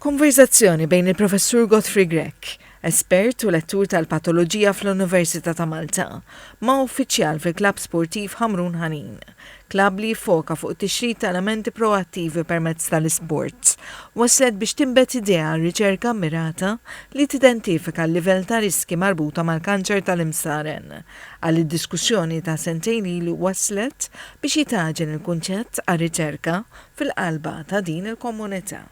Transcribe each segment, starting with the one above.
Konverżazzjoni bejn il-Professur Godfrey Grech, espert u lettur tal-patoloġija fl-Università ta' Malta, ma' uffiċjal fil-Klabb Sportiv Ħamrun Ħanin, klabb li jiffoka fuq it-tixrid ta' elementi proattivi permezz tal-isports, wasslet biex tinbet idea għal riċerka mmirata li tidentifika l-livell ta' riskji marbuta mal-kanċer tal-imsaren. Qal li diskussjoni ta' sentejn ilu wasslet biex jitgħaġen il-kunċett għar-riċerka fil-qalba ta' din il-komunità.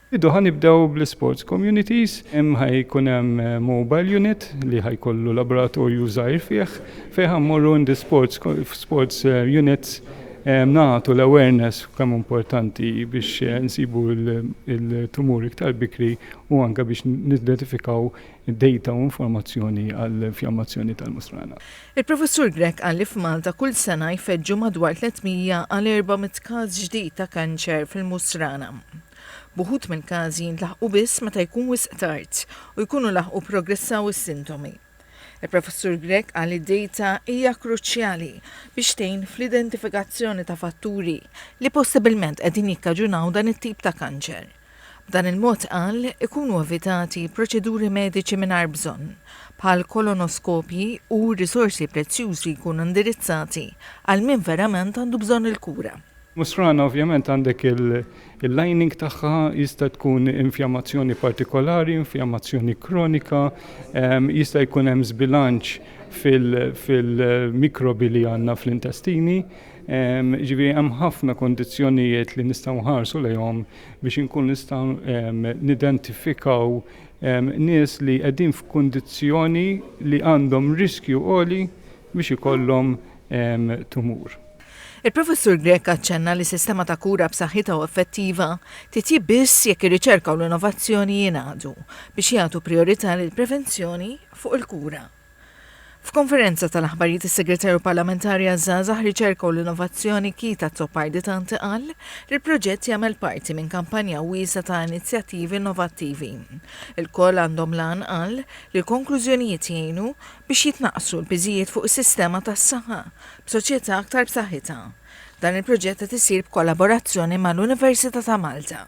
Bidu ħa nibdew bl-isports communities, hemm ħa jkun hemm mobile unit li ħa jkollu laboratorju żgħir fih fejn ħa mmorru in the sports f'sports units nagħtu l-awareness kemm hu importanti biex insibu l-tumur iktar bikri u anke biex nidentifikaw data u informazzjoni għall-infjammazzjoni tal-mustrana. Il-Professur Grech qal li f'Malta kull sena jfeġġu madwar 300 għal 400 każ ġdid ta' kanċer fil-musrana. B'uħud mill-każi jintlaħqu biss meta jkun wisq tard u jkunu laħqu pprogressaw is-sintomi. Il-Professur Grech qal li d-dejta hija kruċjali biex tgħin fl-identifikazzjoni ta' fatturi li possibilment qegħdin jikkaġunaw dan it-tip ta' kanċer. B'dan il-mod, qal, ikunu evitati proċeduri mediċi mingħajr bżonn, bħal kolonoskopji u r-risorsi prezzjużi jkunu indirizzati għal min verament għandu bżonn il-kura. Musrana ovvjament għandek il-lining tagħha jista' tkun infjamazzjoni partikolari, infjamazzjoni kronika, jista' jkun hemm żbilanċ fil-mikrobi li għandna fl-intestini. Jiġifieri hemm ħafna kundizzjonijiet li nistgħu nħarsu lejhom biex inkunu nistgħu nidentifikaw nies li qegħdin f'kundizzjoni li għandhom riskju għoli biex ikollhom tumur. Il-Professur Grech aċċenna li sistema ta' kura b'saħħitha u effettiva titjieb biss jekk ir-riċerka u l-innovazzjoni jingħaqdu biex jagħtu prijorità lill-prevenzjoni fuq il-kura. F'konferenza tal-aħbarijiet is-Segretarju Parlamentari għaż-Żgħażagħ, Riċerka u l-Innovazzjoni Keith Azzopardi Tanti qal li l-proġett jagħmel parti minn kampanja wiesgħa ta' inizjattivi innovattivi. Ilkoll għandhom l-għan, qal, li l-konklużjonijiet jgħinu biex jitnaqqsu l-piżijiet fuq is-sistema tas-saħħa b'soċjetà aktar b'saħħitha. Dan il-proġett qed isir b'kollaborazzjoni mal-Università ta' Malta.